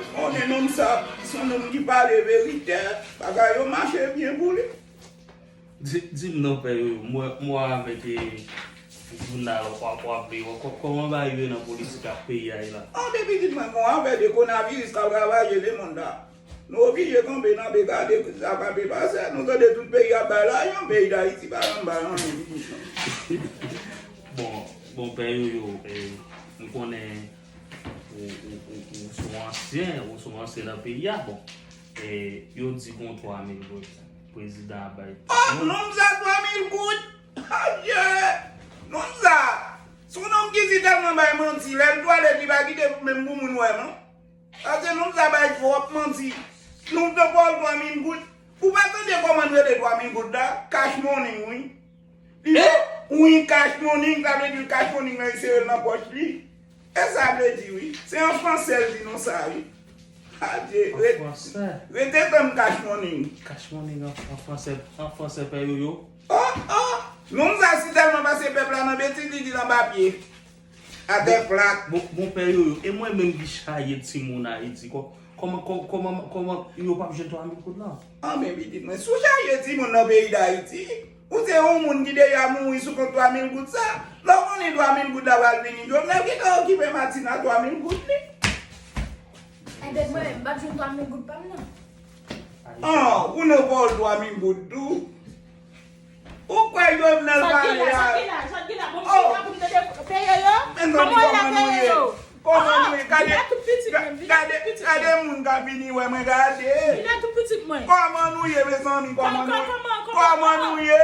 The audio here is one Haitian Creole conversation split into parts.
Ou konnen nonm sa son nonm ki pale verite bagay yo mache byen pou li. Dim non pè yo mwen avek jounal wap li yo koman ba rive nan politik ak peyi a ye la. An de pitit mwen gon afè de konaviris kap ravaje le mond la nou oblije kanpe nan be gade sa kap e pase nou tande tout peyi ap bay lajan peyi dayiti pa janm bay anyen pitit mwen. Bon pè yo yo mwen konnen. Ou se yon ansyen, ou se yon ansyen nan peyi a bon. E yo di gon 3000 goud prezidan ap bay. Oh nonm sa 3000 goud? Adye! Nonm sa, se yon nonm ki si tèlman bay manti, lè l twalèt li pa kite menm pou moun wè non. Paske nonm sa bay twòp manti. Nonm sa ba w 3000 goud? Ou pa tande kòman l rele 3000 goud la? Cash money wi. Li Ui cash morning sa vle di cash morning nan li serel nan pòch li esa vle di ui se an fransè l di nou sa ui adye rete tann cash morning. Cash morning an fransè an fransè pè yoyo. Oh oh Moun sa si tèlman pase pèp la nan betiz li dil anba pye. Atè plat. Bon pè yoyo e mwen menm ki chaje timoun ayiti kòman kòman kòman yo pap jwenn 3000 goud lan. An men pitit mwen si w chaje timoun nan peyi dayiti ou se yon moun ki deja mouri sou kont 3000 goud sa lè w konnen 3000 goud la pral vini jovenel gentan okipe martine a 3000 goud li. Ebyen mwen menm m pap jwenn 3000 goud pa m nan. An ou nan pa w 3000 goud tou. Ou kwè jovenel pale a oh men non di koman nou ye koman nou ye gade gade gade moun kap vini wè mwen gade koman nou ye mezanmi koman nou ye koman nou ye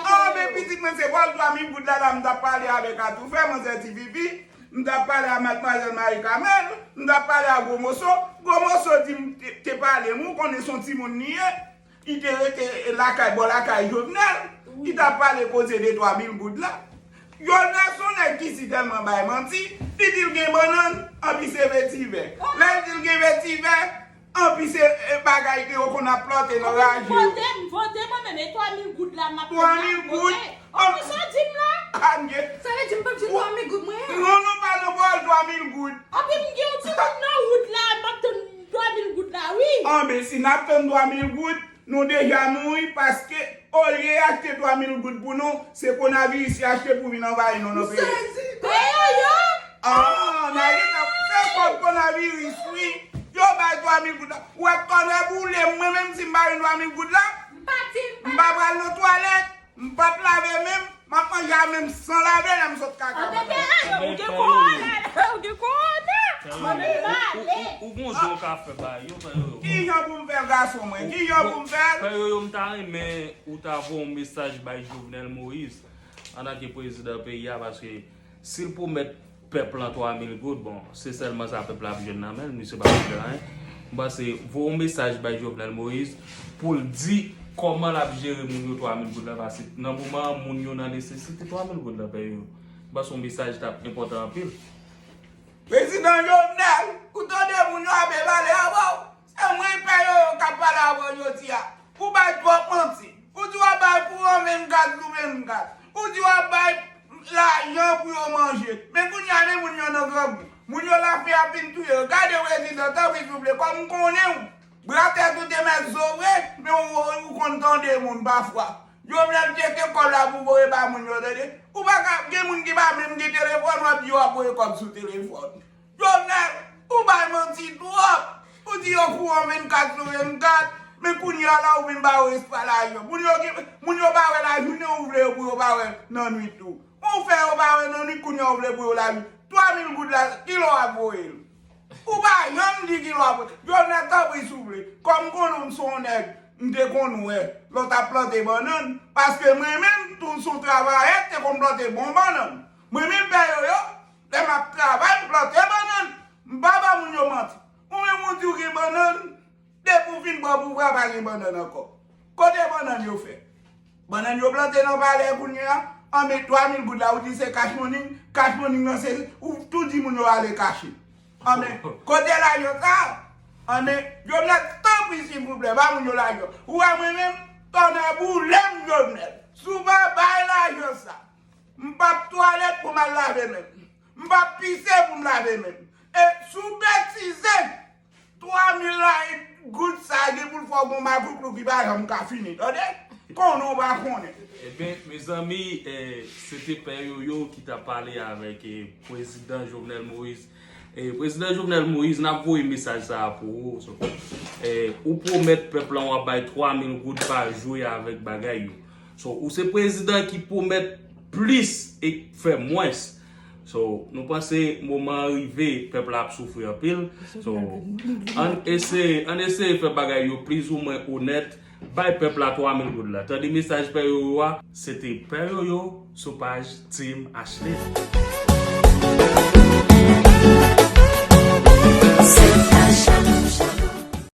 oh men pitit mwen se kòl 3000 goud la la m tap pale avèk atoufè manzè ti pipi m tap pale a madmwazèl marie carmel m tap pale a gwo moso gwo moso di m te pale m ou konnen son timoun li ye. Li te rete lakay bò lakay Jovenel, li tap pale koze de twa mil goud la. Jovenel son nèg ki si tèlman bay manti, li dil gen bannann, anpi se vetivè. Lèl dil gen vetivè, anpi se bagay ke yo konn ap plante nan raje yo. Vote m, vote mwen menm, e twa mil goud la map pran la pou vote? Anplis sa w dim la? Pam gen. Sa vle di m pap jwenn twa mil goud mwen an? Non non pa nan pawòl twa mil goud. Anpi m gen yon ti moun nan wout la map tann. 3 mil goud la wi. An men si nap tann 3 mil goud nou deja mouri paske olye y achte 3 mil goud pou nou se konaviris y achte pou vin anvayi nou nan peyi. M sezi peye yo. Aah Nayli t ap fè kòb konaviris wi yo bay 3 mil goud la wè tonnè boulem mwen menm si m pa jwenn 3 mil goud la m pa pral nan twalèt. M pap lave men m, m ap manje a men m san lave lè m sot kaka mwen menm. Anmweyy ou gen korona ou gen korona manmi male. Ou gon jan ou ka fè bagay yo fè yoyo. Kijan pou m fè l gason mwen kijan pou m fè l. Fè yoyo m ta renmen ou ta voye yon mesaj bay Jovenel Moïse antanke prezidan peyi a paske. Sil pwomèt pèp lan 3000 goud bon se sèlman sa pèp la ap jwenn nan menl misye pap fè anyen m panse voye yon mesaj bay Jovenel Moïse poul di kòman lap jere moun yo 3000 goud la pase nan moman an moun yo nan nesesite 3000 goud la pèye yo m panse yon mesaj tap enpòtan anpil. Prezidan Jovenel, ou tande moun yo ape pale avèw? Se mwen pè yo yo kap pale avèw jodi a. Ou bay twòp manti. Ou di wap bay pou yon 24 jou 24. Ou di wap bay lajan pou yo manje. Men kounye a men moun yo nan grangou. Moun yo la fè ap vin touye yo. Gade prezidan tanpri souple kòm m konnenw. Bra tèt ou te mèt zo vre men ou konn tande moun pafwa. Jovenel tcheke kòb la pou voye ba moun yo tande. Ou paka gen moun ki pa menm gen telefòn wap di wap voye kòb sou telefòn. Jovenel ou bay manti trop ou di yo pou an 24 sou 24 men kounya la ou vin ba yo espwa lajan moun yo gen moun yo pa wè la jounen ou vle yo pou yo pa wè nan nwit tou ou fè yo pa wè nan nwit kounya ou vle pou yo la jou 3000 goud la ki lè wap voye l ou pa janm di ki lè wap voye Jovenel tanpri si w vle kòm konnen w m son nèg m te konn wè lè w tap plante bannann paske mwen menm tou m son travayè m te konn plante bon bannann mwen menm pè yoyo Lè m ap travay pou plante bannann, m pa ba moun yo manti. Ou menm ou di ou gen bannann, depi ou fin pran pouvwa a pa gen bannann ankò. Kote bannann yo fèt? Bannann yo plante nan palè kounye a, an men 3 mil goud la ou di se cash morning, cash morning nan se ou tou di moun yo ale kache. An men kote lajan sa a? An men Jovenel tanpri silvouplè ba moun yo lajan. Ou wè mwen menm, tonnè boule m Jovenel, si w pa bay lajan sa a. M p ap twalèt pou m al lave men m. M p ap pise pou m lave men m. E si w betize, twa mil layi goud sa a gen pou l fè w gen yon magoutlou ki pa janm ka fini, tande! Konnen w pa konnen. Enben, mezanmi, se te Pè Yoyo ki t ap pale avèk Prezidan Jovenel Moïse. Prezidan Jovenel Moïse, n ap voye mesaj sa a pou ou. Ou pwomèt pèp lan w ap bay 3 mil goud pa jwe avèk bagay yo. So ou se prezidan ki pwomèt plis e fè mwens. So nou panse moman an rive pèp la ap soufri anpil. So ann eseye ann eseye fè bagay yo plizoumwen onèt bay pèp la 3 mil goud la. Tande mesaj Pè Yoyo a. Se te Pè Yoyo sou paj Team Ashley.